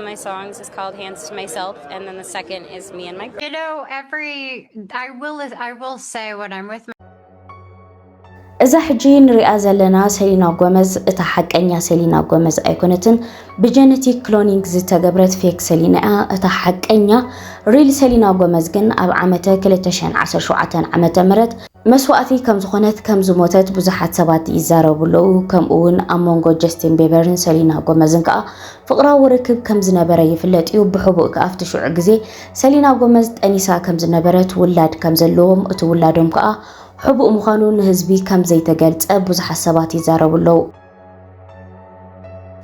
my songs is called hands to myself and then the second is me and my you know every I will I will say when I'm with my እዛ ሕጂ ንሪኣ ዘለና ሰሊና ጎመዝ እታ ሓቀኛ ሰሊና ጎመዝ ኣይኮነትን። ብጀነቲክ ክሎኒንግ ዝተገብረት ፌክ ሰሊና እያ። እታ ሓቀኛ ሪል ሰሊና ጎመዝ ግን ኣብ ዓመተ 2017 ዓመተ ምህረት መስዋእቲ ከም ዝኾነት ከም ዝሞተት ብዙሓት ሰባት ይዛረቡ ኣለዉ። ከምኡ እውን ኣብ መንጎ ጀስቲን ቤበርን ሰሊና ጎመዝን ከዓ ፍቕራዊ ርክብ ከም ዝነበረ ይፍለጥ እዩ፣ ብሕቡእ ከኣ ኣብቲ ሽዑ ግዜ ሰሊና ጎመዝ ጠኒሳ ከም ዝነበረት፣ ውላድ ከም ዘለዎም፣ እቲ ውላዶም ከኣ ሕቡእ ምዃኑ ንህዝቢ ከም ዘይተገልጸ ብዙሓት ሰባት ይዛረቡ ኣለዉ።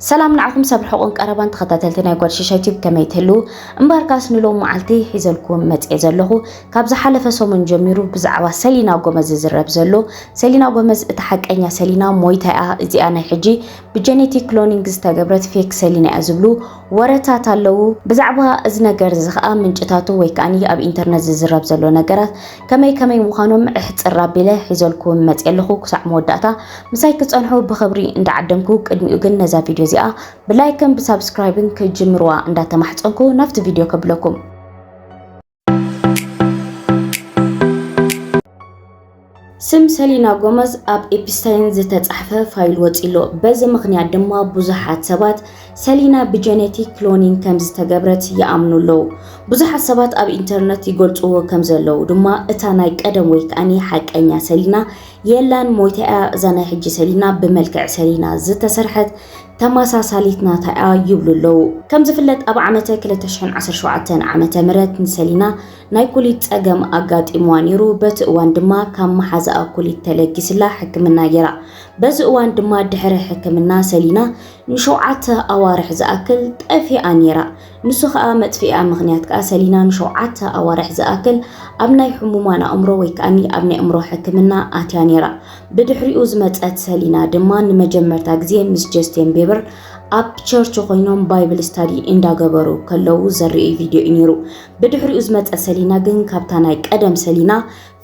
ሰላም ንዓኹም ሰብ ርሑቕን ቀረባን ተኸታተልቲ ናይ ጓል ሽሻይ ቲዩብ ከመይ ትህልዉ? እምበኣርካስ ንሎሚ መዓልቲ ሒዘልኩም መጺኤ ዘለኹ ካብ ዝሓለፈ ሰሙን ጀሚሩ ብዛዕባ ሰሊና ጎመዝ ዝዝረብ ዘሎ ሰሊና ጎመዝ እታ ሓቀኛ ሰሊና ሞይታ'ያ እዚኣ ናይ ሕጂ ብጀኔቲክ ክሎኒንግ ዝተገብረት ፌክ ሰሊና እያ ዝብሉ ወረታት ኣለዉ። ብዛዕባ እዚ ነገር እዚ ከኣ ምንጭታቱ ወይ ከኣ ኣብ ኢንተርነት ዝዝረብ ዘሎ ነገራት ከመይ ከመይ ምዃኖም እሕጽር ኣቢለ ሒዘልኩም መጽየ ኣለኹ። ክሳዕ መወዳእታ ምሳይ ክትጸንሑ ብኽብሪ እንዳዓደምኩ ቅድሚኡ ግን ነዛ ቪድዮ እዚኣ ብላይክን ብሳብስክራይብን ክትጅምርዋ እንዳተማሕጸንኩ ናብቲ ቪድዮ ከብለኩም። ስም ሰሊና ጎመዝ ኣብ ኤፕስታይን ዝተጻሕፈ ፋይል ወጺሎ። በዚ ምኽንያት ድማ ብዙሓት ሰባት ሰሊና ብጀኔቲክ ክሎኒንግ ከም ዝተገብረት ይኣምኑ ኣለዉ። ብዙሓት ሰባት ኣብ ኢንተርነት ይገልጽዎ ከም ዘለዉ ድማ እታ ናይ ቀደም ወይ ከኣኒ ሓቀኛ ሰሊና የላን ሞይታ እያ። እዛ ናይ ሕጂ ሰሊና ብመልክዕ ሰሊና ዝተሰርሐት ተመሳሳሊት ናታ'ያ ይብሉ ኣለዉ። ከም ዝፍለጥ ኣብ ዓመተ ክልተ ሽሕን ዓሰርተ ሸውዓተን ዓመተ ምህረት ንሰሊና ናይ ኩሊት ጸገም ኣጋጢምዋ ነይሩ፣ በቲ እዋን ድማ ካብ መሓዛኣ ኩሊት ተለጊስላ ሕክምና ገይራ። በዚ እዋን ድማ ድሕሪ ሕክምና ሰሊና ንሸውዓተ ኣዋርሕ ዝኣክል ጠፊኣ ነይራ። ንሱ ከኣ መጥፍኢኣ ምኽንያት ከኣ ሰሊና ንሸውዓተ ኣዋርሕ ዝኣክል ኣብ ናይ ሕሙማን ኣእምሮ ወይ ከኣኒ ኣብ ናይ ኣእምሮ ሕክምና ኣትያ ነይራ። ብድሕሪኡ ዝመጸት ሰሊና ድማ ንመጀመርታ ግዜ ምስ ጀስቴን ቤበር ኣብ ቸርች ኮይኖም ባይብል ስታዲ እንዳገበሩ ከለዉ ዘርእይ ቪድዮ እዩ ነይሩ። ብድሕሪኡ ዝመጸት ሰሊና ግን ካብታ ናይ ቀደም ሰሊና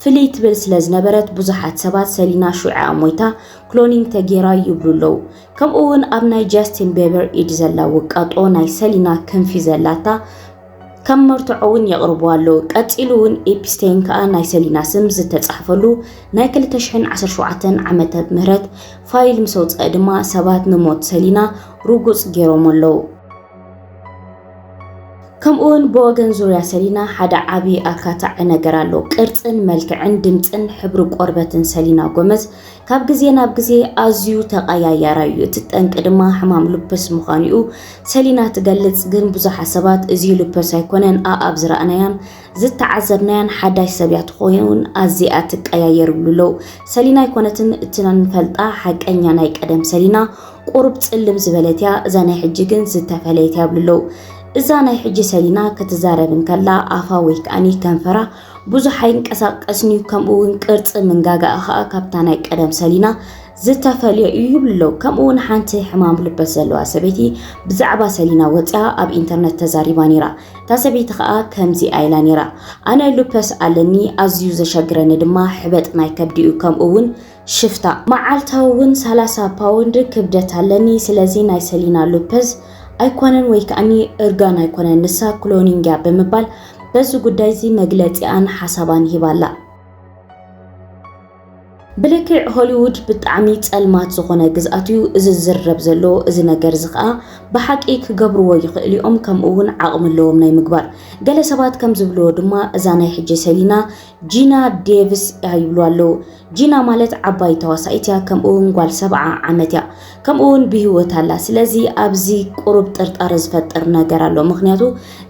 ፍልይ ትብል ስለ ዝነበረት ብዙሓት ሰባት ሰሊና ሹዕኣ ሞይታ ክሎኒንግ ተጌራ ይብሉ ኣለዉ። ከምኡ ውን ኣብ ናይ ጃስቲን ቤበር ኢድ ዘላ ውቃጦ ናይ ሰሊና ክንፊ ዘላታ ከም መርትዖ ውን የቕርቡ ኣለዉ። ቀጺሉ ውን ኤፒስቴይን ከኣ ናይ ሰሊና ስም ዝተጻሕፈሉ ናይ ክልተ ሽሕን ዓሰርተ ሸውዓተን ዓመተ ምህረት ፋይል ምስ ኣውጽኣ ድማ ሰባት ንሞት ሰሊና ርጉጽ ጌሮሞ ኣለዉ። ከምኡ ውን ብወገን ዙርያ ሰሊና ሓደ ዓቢ ኣካታዒ ነገር ኣሎ። ቅርጽን መልክዕን ድምጽን ሕብሪ ቆርበትን ሰሊና ጎመዝ ካብ ግዜ ናብ ግዜ ኣዝዩ ተቐያያራይ እዩ፣ እቲ ጠንቂ ድማ ሕማም ሉፐስ ምዃኑ'ዩ ሰሊና ትገልጽ። ግን ብዙሓት ሰባት እዚ ሉፐስ ኣይኮነን፣ ኣኣብ ዝረኣናያን ዝተዓዘብናያን ሓዳሽ ሰብ'ያ ትኸውን፣ ኣዝያ'ያ ትቀያየር ይብሉ ኣለው። ሰሊና ኣይኮነትን እቲ ንፈልጣ ሓቀኛ ናይ ቀደም ሰሊና፣ ቁሩብ ጽልም ዝበለት'ያ፣ እዛ ናይ ሕጂ ግን ዝተፈለየት'ያ ይብሉ ኣለው። እዛ ናይ ሕጂ ሰሊና ክትዛረብ እንከላ ኣፋ ወይ ከኣ ከንፈራ ብዙሕ ኣይንቀሳቀስን'ዩ፣ ከምኡ'ውን ቅርጺ ምንጋጋኣ ከኣ ካብታ ናይ ቀደም ሰሊና ዝተፈልየ እዩ ይብሉ ኣለዉ። ከምኡ'ውን ሓንቲ ሕማም ልበት ዘለዋ ሰበይቲ ብዛዕባ ሰሊና ወጺኣ ኣብ ኢንተርነት ተዛሪባ ነይራ። እታ ሰበይቲ ከኣ ከምዚኣ ኢላ ነይራ፣ ኣነ ሉፐስ ኣለኒ፣ ኣዝዩ ዘሸግረኒ ድማ ሕበጥ ናይ ከብዲ'ዩ፣ ከምኡ'ውን ሽፍታ መዓልታዊ ውን ሰላሳ ፓውንድ ክብደት ኣለኒ ስለዚ ናይ ሰሊና ሎፐዝ ኣይኮነን ወይ ከኣኒ እርጋን ኣይኮነን ንሳ ክሎኒንግ እያ ብምባል በዚ ጉዳይ እዚ መግለጺኣን ሓሳባን ሂባ ኣላ። ብልክዕ ሆሊዉድ ብጣዕሚ ጸልማት ዝኾነ ግዝኣት እዩ እዚ ዝዝረብ ዘሎ እዚ ነገር እዚ ከኣ ብሓቂ ክገብርዎ ይኽእሉ እዮም ከምኡ እውን ዓቕሚ ኣለዎም ናይ ምግባር ገለ ሰባት ከም ዝብልዎ ድማ እዛ ናይ ሕጂ ሰሊና ጂና ዴቭስ እያ ይብሉ ኣለዉ ጂና ማለት ዓባይ ተዋሳኢት እያ ከምኡ ውን ጓል ሰብዓ ዓመት እያ ከምኡ ውን ብሂወት ኣላ ስለዚ ኣብዚ ቁሩብ ጥርጣረ ዝፈጥር ነገር ኣሎ ምክንያቱ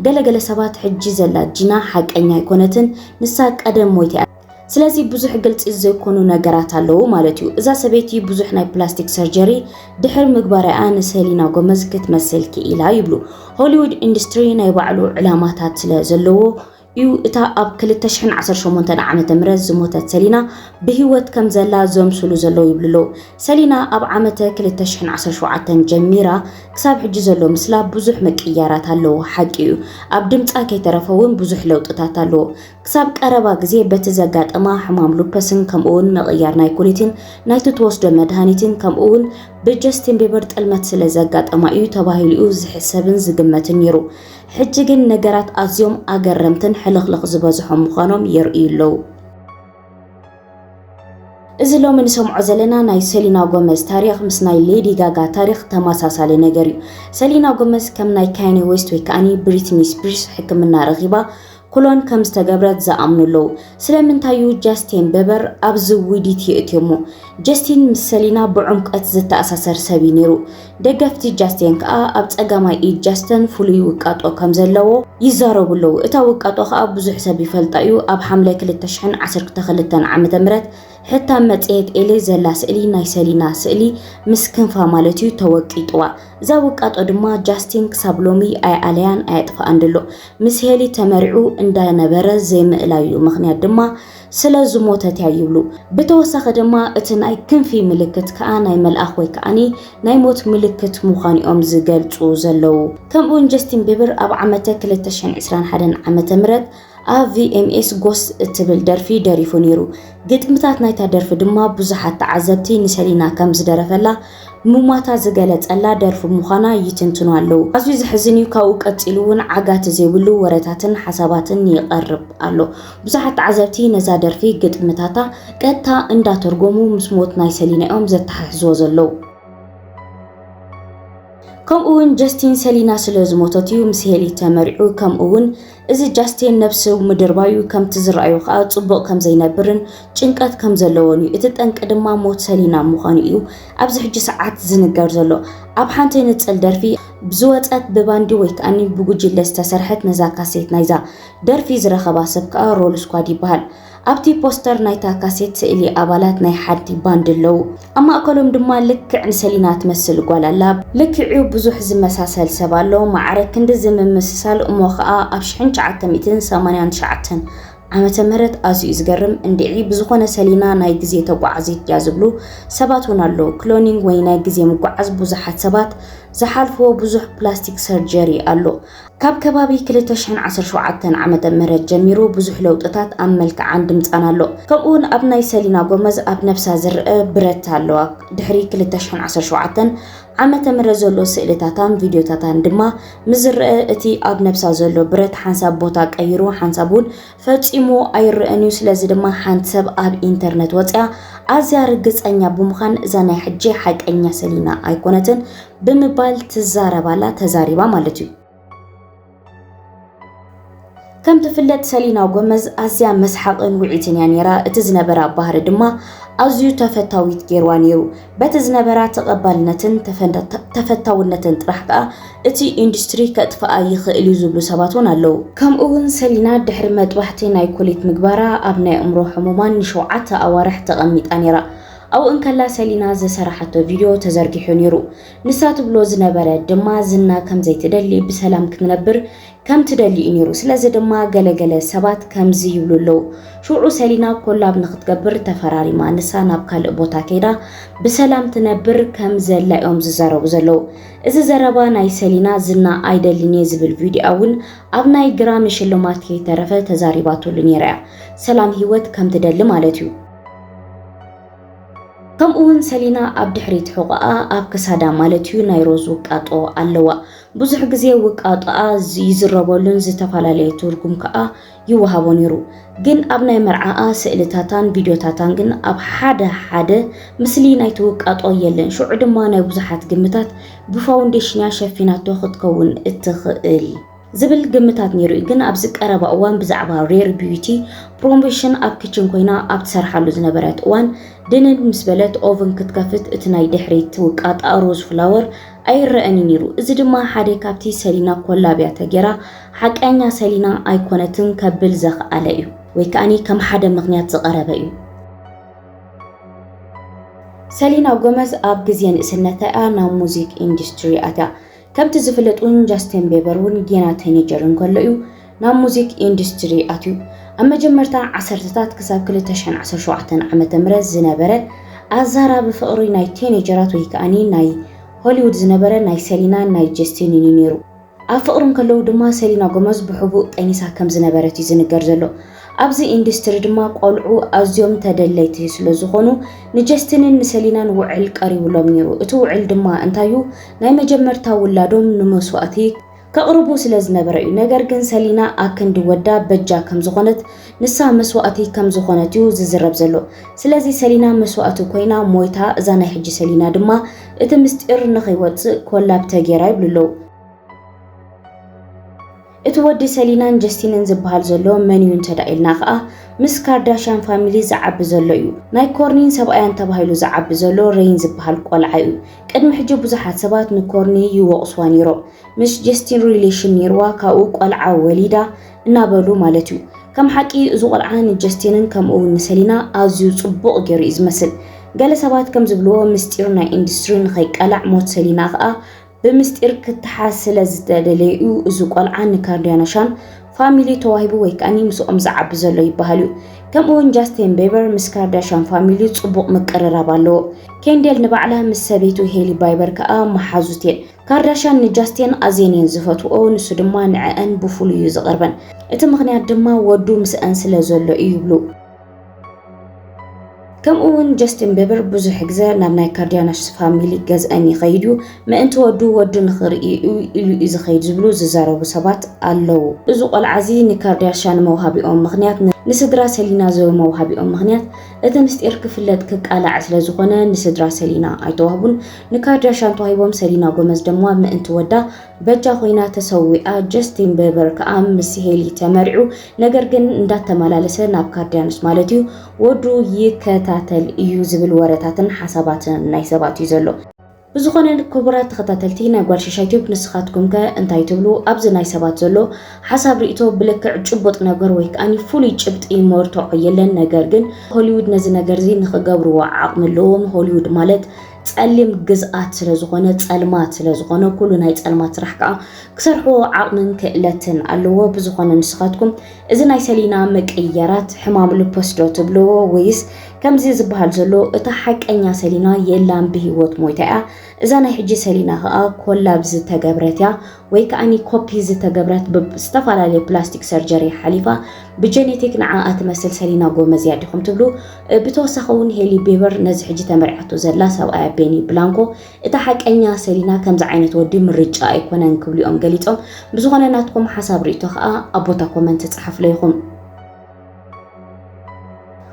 ገለ ገለ ሰባት ሕጂ ዘላ ጂና ሓቀኛ ኣይኮነትን ንሳ ቀደም ሞይታ እያ ስለዚ ብዙሕ ግልጺ ዘይኮኑ ነገራት ኣለዉ ማለት እዩ እዛ ሰበይቲ ብዙሕ ናይ ፕላስቲክ ሰርጀሪ ድሕሪ ምግባራያ ንሰሊና ጎመዝ ክትመስል ክኢላ ይብሉ ሆሊውድ ኢንዱስትሪ ናይ ባዕሉ ዕላማታት ስለ ዘለዎ እዩ። እታ ኣብ ክልተ ሽሕን ዓሰርተ ሸሞንተን ዓመተ ምህረት ዝሞተት ሰሊና ብህይወት ከም ዘላ ዘምስሉ ዘለዉ ይብሉ ኣለዉ። ሰሊና ኣብ ዓመተ ክልተ ሽሕን ዓሰርተ ሸውዓተን ጀሚራ ክሳብ ሕጂ ዘሎ ምስላ ብዙሕ ምቅይያራት ኣለዎ ሓቂ እዩ። ኣብ ድምጻ ከይተረፈ እውን ብዙሕ ለውጥታት ኣለዎ። ክሳብ ቀረባ ግዜ በቲ ዘጋጠማ ሕማም ሉፐስን ከምኡውን ምቕይያር ናይ ኩሊትን ናይቲ ትወስዶ መድሃኒትን ከምኡውን ብጀስቲን ቢበር ጥልመት ስለ ዘጋጠማ እዩ ተባሂሉ እዩ ዝሕሰብን ዝግመትን ነይሩ። ሕጂ ግን ነገራት ኣዝዮም ኣገረምትን ሕልኽልኽ ዝበዝሖም ምዃኖም የርእዩ ኣለዉ። እዚ ሎሚ ንሰምዖ ዘለና ናይ ሰሊና ጎመዝ ታሪኽ ምስ ናይ ሌዲ ጋጋ ታሪኽ ተመሳሳሊ ነገር እዩ። ሰሊና ጎመዝ ከም ናይ ካየኔ ዌስት ወይ ከኣኒ ብሪትኒ ስፒርስ ሕክምና ረኺባ ኩሎን ከም ዝተገብረት ዝኣምኑ ኣለዉ። ስለምንታይ እዩ ጃስቴን በበር ኣብዚ ውዲት የእትዮሞ? ጀስቲን ምስ ሰሊና ብዑምቀት ዝተኣሳሰር ሰብ እዩ ነይሩ። ደገፍቲ ጃስቴን ከኣ ኣብ ጸጋማይ ኢድ ጃስተን ፍሉይ ውቃጦ ከም ዘለዎ ይዛረቡ ኣለዉ። እታ ውቃጦ ከኣ ብዙሕ ሰብ ይፈልጣ እዩ። ኣብ ሓምለ ክልተ ሽሕን ዓሰርተ ክልተን ዓመተ ምህረት ሕታም መጽሔት ኤሌ ዘላ ስእሊ ናይ ሰሊና ስእሊ ምስ ክንፋ ማለት እዩ ተወቂጥዋ። እዛ ውቃጦ ድማ ጃስቲን ክሳብ ሎሚ ኣይኣለያን ኣየጥፈኣን ድሎ። ምስ ሄሊ ተመርዕዩ እንዳ ነበረ ዘይምእላዩ ምኽንያት ድማ ስለ ዝሞተት እያ ይብሉ። ብተወሳኺ ድማ እቲ ናይ ክንፊ ምልክት ከኣ ናይ መልኣኽ ወይ ከኣኒ ናይ ሞት ምልክት ምዃኑ እዮም ዝገልጹ ዘለዉ። ከምኡ ውን ጀስቲን ቢብር ኣብ ዓመተ ክልተ ሽሕን ዕስራን ሓደን ዓመተ ምህረት ኣብ ቪኤምኤስ ጎስት እትብል ደርፊ ደሪፉ ነይሩ። ግጥምታት ናይታ ደርፊ ድማ ብዙሓት ተዓዘብቲ ንሰሊና ከም ዝደረፈላ ሙማታ ዝገለጸላ ደርፊ ምዃና ይትንትኑ ኣለዉ። ኣዝዩ ዘሕዝን እዩ ካብኡ ቀጺሉ እውን ዓጋቲ ዘይብሉ ወረታትን ሓሳባትን ይቐርብ ኣሎ። ብዙሓት ተዓዘብቲ ነዛ ደርፊ ግጥምታታ ቀጥታ እንዳተርጎሙ ምስ ሞት ናይ ሰሊና እዮም ዘተሓሕዝዎ ዘለዉ። ከምኡ እውን ጀስቲን ሰሊና ስለ ዝሞተት እዩ ምስ ሄሊ ተመርዕዩ ከምኡ እውን እዚ ጃስቴን ነብሱ ምድርባዩ ከምቲ ዝረኣዮ ከኣ ጽቡቕ ከም ዘይነብርን ጭንቀት ከም ዘለዎን እዩ። እቲ ጠንቂ ድማ ሞት ሰሊና ምዃኑ እዩ ኣብዚ ሕጂ ሰዓት ዝንገር ዘሎ። ኣብ ሓንቲ ንጽል ደርፊ ዝወጸት ብባንዲ ወይ ከኣኒ ብጉጅለ ዝተሰርሐት ነዛ ካሴት ናይዛ ደርፊ ዝረኸባ ሰብ ከኣ ሮል ስኳድ ይበሃል። ኣብቲ ፖስተር ናይታ ካሴት ስእሊ ኣባላት ናይ ሓንቲ ባንድ ኣለዉ፣ ኣብ ማእከሎም ድማ ልክዕ ንሰሊና ትመስል ጓል ኣላ። ልክዕ'ዩ ብዙሕ ዝመሳሰል ሰብ ኣሎ፣ ማዕረ ክንድዚ ምምስሳል፣ እሞ ኸኣ ኣብ ሽሕን ትሽዓተ ሚእትን ሰማንያን ትሽዓተን ዓመተ ምህረት ኣዝዩ ዝገርም፣ እንድዒ ብዝኾነ ሰሊና ናይ ግዜ ተጓዓዚት ድያ ዝብሉ ሰባት ውን ኣለዉ፣ ክሎኒንግ ወይ ናይ ግዜ ምጉዓዝ ብዙሓት ሰባት ዝሓልፍዎ ብዙሕ ፕላስቲክ ሰርጀሪ ኣሎ። ካብ ከባቢ ክልተ ሽሕን ዓሰርተ ሸውዓተን ዓመተ ምህረት ጀሚሩ ብዙሕ ለውጥታት ኣብ መልክዓን ድምጻን ኣሎ። ከምኡ'ውን ኣብ ናይ ሰሊና ጎመዝ ኣብ ነብሳ ዝረኣ ብረት ኣለዋ። ድሕሪ ክልተ ሽሕን ዓሰርተ ሸውዓተን ዓመተ ምህረት ዘሎ ስእልታታን ቪድዮታታን ድማ ምስ ዝረኣ እቲ ኣብ ነብሳ ዘሎ ብረት ሓንሳብ ቦታ ቀይሩ ሓንሳብ ውን ፈጺሙ ኣይረእን እዩ ስለዚ ድማ ሓንቲ ሰብ ኣብ ኢንተርነት ወጽያ ኣዝያ ርግጸኛ ብምዃን እዛ ናይ ሕጂ ሓቀኛ ሰሊና ኣይኮነትን ብምባል ትዛረባላ ተዛሪባ ማለት እዩ ከም ትፍለጥ ሰሊና ጎመዝ ኣዝያ መስሓቕን ውዒትን እያ ነይራ። እቲ ዝነበራ ባህሪ ድማ ኣዝዩ ተፈታዊት ገይርዋ ነይሩ። በቲ ዝነበራ ተቐባልነትን ተፈታውነትን ጥራሕ ከኣ እቲ ኢንዱስትሪ ከጥፍኣ ይኽእል እዩ ዝብሉ ሰባት እውን ኣለዉ። ከምኡ'ውን ሰሊና ድሕሪ መጥባሕቲ ናይ ኩሊት ምግባራ ኣብ ናይ ኣእምሮ ሕሙማን ንሸውዓተ ኣዋርሕ ተቐሚጣ ነይራ። ኣብኡ እንከላ ሰሊና ዝሰራሓቶ ቪድዮ ተዘርጊሑ ነይሩ። ንሳ ትብሎ ዝነበረ ድማ ዝና ከም ዘይትደሊ ብሰላም ክትነብር ከም ትደሊ እዩ ነይሩ። ስለዚ ድማ ገለ ገለ ሰባት ከምዚ ይብሉ ኣለዉ። ሽውዑ ሰሊና ኮላብ ንኽትገብር ተፈራሪማ ንሳ ናብ ካልእ ቦታ ከይዳ ብሰላም ትነብር ከም ዘላ እዮም ዝዛረቡ ዘለዉ። እዚ ዘረባ ናይ ሰሊና ዝና ኣይደልን እየ ዝብል ቪድዮኣ ውን ኣብ ናይ ግራሚ ሽልማት ከይተረፈ ተዛሪባትሉ ኔራ እያ ሰላም ሂወት ከም ትደሊ ማለት እዩ። ከምኡ ውን ሰሊና ኣብ ድሕሪት ሑቆኣ ኣብ ክሳዳ ማለት እዩ ናይ ሮዝ ውቃጦ ኣለዋ ብዙሕ ግዜ ውቃጦኣ ይዝረበሉን ዝተፈላለየ ትርጉም ከኣ ይወሃቦ ነይሩ ግን ኣብ ናይ መርዓኣ ስእልታታን ቪድዮታታን ግን ኣብ ሓደ ሓደ ምስሊ ናይቲ ውቃጦ የለን ሽዑ ድማ ናይ ብዙሓት ግምታት ብፋውንዴሽንያ ሸፊናቶ ክትከውን እትኽእል ዝብል ግምታት ነይሩ እዩ ግን ኣብዚ ቀረባ እዋን ብዛዕባ ሬር ቢዩቲ ፕሮሞሽን ኣብ ክችን ኮይና ኣብ ትሰርሓሉ ዝነበረት እዋን ድንን ምስ በለት ኦቭን ክትከፍት እቲ ናይ ድሕሪት ውቃጣ ሮዝ ፍላወር ኣይረኣን እዩ ነይሩ እዚ ድማ ሓደ ካብቲ ሰሊና ኮላብያ ተጌራ ሓቃኛ ሰሊና ኣይኮነትን ከብል ዘኽኣለ እዩ ወይ ከኣኒ ከም ሓደ ምኽንያት ዝቐረበ እዩ። ሰሊና ጎመዝ ኣብ ግዜ ንእስነታ እያ ናብ ሙዚክ ኢንዱስትሪ ኣትያ። ከምቲ ዝፍለጥ ውን ጃስቲን ቤበር ውን ጌና ተኔጀር እንከሎ እዩ ናብ ሙዚክ ኢንዱስትሪ ኣትዩ። ኣብ መጀመርታ ዓሰርተታት ክሳብ ክልተ ሽሕን ዓሰርተ ሸውዓተን ዓመተ ምህረት ዝነበረ ኣዛራቢ ፍቕሪ ናይ ቴኔጀራት ወይ ከኣኒ ናይ ሆሊውድ ዝነበረ ናይ ሰሊናን ናይ ጀስቲንን እዩ ነይሩ። ኣብ ፍቕሪ እንከለዉ ድማ ሰሊና ጎመዝ ብሕቡእ ጠኒሳ ከም ዝነበረት እዩ ዝንገር ዘሎ። ኣብዚ ኢንዱስትሪ ድማ ቆልዑ ኣዝዮም ተደለይቲ ስለ ዝኾኑ ንጀስቲንን ንሰሊናን ውዕል ቀሪቡሎም ነይሩ። እቲ ውዕል ድማ እንታይ'ዩ ናይ መጀመርታ ውላዶም ንመስዋእቲ ከቕርቡ ስለ ዝነበረ እዩ ነገር ግን ሰሊና ኣክንዲ ወዳ በጃ ከም ዝኾነት ንሳ መስዋእቲ ከም ዝኾነት እዩ ዝዝረብ ዘሎ ስለዚ ሰሊና መስዋእቲ ኮይና ሞይታ እዛ ናይ ሕጂ ሰሊና ድማ እቲ ምስጢር ንኸይወጽእ ኮላብ ተጌራ ይብሉ ኣለዉ እቲ ወዲ ሰሊናን ጀስቲንን ዝበሃል ዘሎ መን እዩ እንተ ኢልና ከኣ ምስ ካርዳሽያን ፋሚሊ ዝዓቢ ዘሎ እዩ ናይ ኮርኒን ሰብኣያን ተባሂሉ ዝዓቢ ዘሎ ረይን ዝበሃል ቆልዓ እዩ ቅድሚ ሕጂ ብዙሓት ሰባት ንኮርኒ ይወቕስዋ ነይሮም ምስ ጀስቲን ሪሌሽን ነይርዋ ካብኡ ቆልዓ ወሊዳ እናበሉ ማለት እዩ። ከም ሓቂ እዚ ቆልዓ ንጀስቲንን ከምኡ እውን ንሰሊና ኣዝዩ ጽቡቕ ገይሩ እዩ ዝመስል። ገለ ሰባት ከም ዝብልዎ ምስጢር ናይ ኢንዱስትሪ ንኸይቃላዕ ሞት ሰሊና ከኣ ብምስጢር ክተሓዝ ስለ ዝተደለየ እዩ እዚ ቆልዓ ንካርዲያናሻን ፋሚሊ ተዋሂቡ ወይ ከኣ ምስኦም ዝዓቢ ዘሎ ይበሃል እዩ። ከምኡ እውን ጃስቲን ቤበር ምስ ካርዳሻን ፋሚሊ ጽቡቕ ምቅርራብ ኣለዎ። ኬንዴል ንባዕላ ምስ ሰበይቱ ሄሊ ባይበር ከኣ መሓዙት እየን። ካርዳሽያን ንጃስቲን ኣዝየን እየን ዝፈትውኦ፣ ንሱ ድማ ንዐኣን ብፍሉይ እዩ ዝቐርበን። እቲ ምኽንያት ድማ ወዱ ምስኣን ስለ ዘሎ እዩ ይብሉ። ከምኡ'ውን ጀስቲን ቢበር ብዙሕ ግዘ ናብ ናይ ካርዳሽያን ፋሚሊ ገዝኣን ይኸይድ እዩ፣ ምእንቲ ወዱ ወዱ ንኽርኢ እዩ ኢሉ እዩ ዝኸይድ ዝብሉ ዝዛረቡ ሰባት ኣለዉ። እዚ ቆልዓ እዚ ንካርዳሽያን መውሃቢኦም ምኽንያት ንስድራ ሰሊና ዘውመውሃቢኦም ምኽንያት እቲ ምስጢር ክፍለጥ ክቃላዕ ስለ ዝኾነ ንስድራ ሰሊና ኣይተዋህቡን። ንካድራ ሻንጣ ሂቦም ሰሊና ጎመዝ ደማ ምእንቲ ወዳ በጃ ኮይና ተሰዊኣ ጀስቲን ቤበር ከኣ ምስ ሄሊ ተመርዑ ነገር ግን እንዳተመላለሰ ናብ ካርድያኖስ ማለት እዩ ወዱ ይከታተል እዩ ዝብል ወረታትን ሓሳባትን ናይ ሰባት እዩ ዘሎ ብዝኾነ ክቡራት ተኸታተልቲ ናይ ጓል ሽሻይ ቲዩብ ንስኻትኩም ከ እንታይ ትብሉ ኣብዚ ናይ ሰባት ዘሎ ሓሳብ ርእቶ ብልክዕ ጭቡጥ ነገር ወይ ከዓኒ ፍሉይ ጭብጢ መርትዖ የለን ነገር ግን ሆሊውድ ነዚ ነገር እዚ ንኽገብርዎ ዓቕሚ ኣለዎም ሆሊውድ ማለት ጸሊም ግዝኣት ስለዝኾነ ጸልማት ስለዝኾነ ኩሉ ናይ ጸልማት ስራሕ ከኣ ክሰርሕዎ ዓቕምን ክእለትን ኣለዎ። ብዝኾነ ንስኻትኩም እዚ ናይ ሰሊና ምቅይያራት ሕማም ልፖስ ዶ ትብልዎ ወይስ ከምዚ ዝበሃል ዘሎ እታ ሓቀኛ ሰሊና የላን ብሂወት ሞይታ እያ እዛ ናይ ሕጂ ሰሊና ከኣ ኮላብ ዝተገብረት እያ ወይ ከኣኒ ኮፒ ዝተገብረት ብ ዝተፋላለየ ፕላስቲክ ሰርጀሪ ሓሊፋ ብ ጀኔቲክ ንዓኣ ትመስል ሰሊና ጎመዝ እያ ዲኹም ትብሉ ብተወሳኺ ውን ሄሊ ቤበር ነዚ ሕጂ ተመሪዓቶ ዘላ ሰብኣያ ቤኒ ብላንኮ እታ ሓቀኛ ሰሊና ከምዚ ዓይነት ወዲ ምርጫኣ ኣይኮነን ክብሉ እዮም ገሊጾም ብዝኾነ ናትኩም ሓሳብ ሪኢቶ ከኣ ኣብ ቦታ ኮመንት ጸሓፍለይ ኢኹም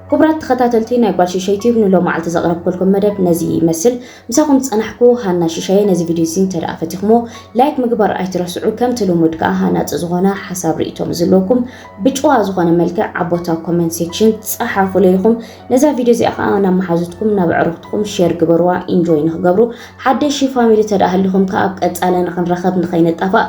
ክቡራት ተኸታተልቲ ናይ ጓል ሽሻይ ቲዩብ ንሎማዓልቲ ዘቕረብኩልኩም መደብ ነዚ ይመስል ምሳኹም ዝጸናሕኩ ሃና ሽሻየ ነዚ ቪድዮ እዚ እንተ ደኣ ፈቲኹሞ ላይክ ምግባር ኣይትረስዑ ከምቲ ልሙድ ከኣ ሃናጺ ዝኾነ ሓሳብ ርእቶ ምስዝለኩም ብጭዋ ዝኾነ መልክዕ ኣብ ቦታ ኮመንት ሴክሽን ጸሓፉለይ ኢኹም ነዛ ቪድዮ እዚኣ ከኣ ናብ መሓዙትኩም ናብ ዕሩኽትኩም ሼር ግበርዋ ኢንጆይ ንክገብሩ ሓደሽ ፋሚሊ ተደኣ ሃሊኹም ከኣ ኣብ ቀጻለ ንክንረኸብ ንኸይንጣፋእ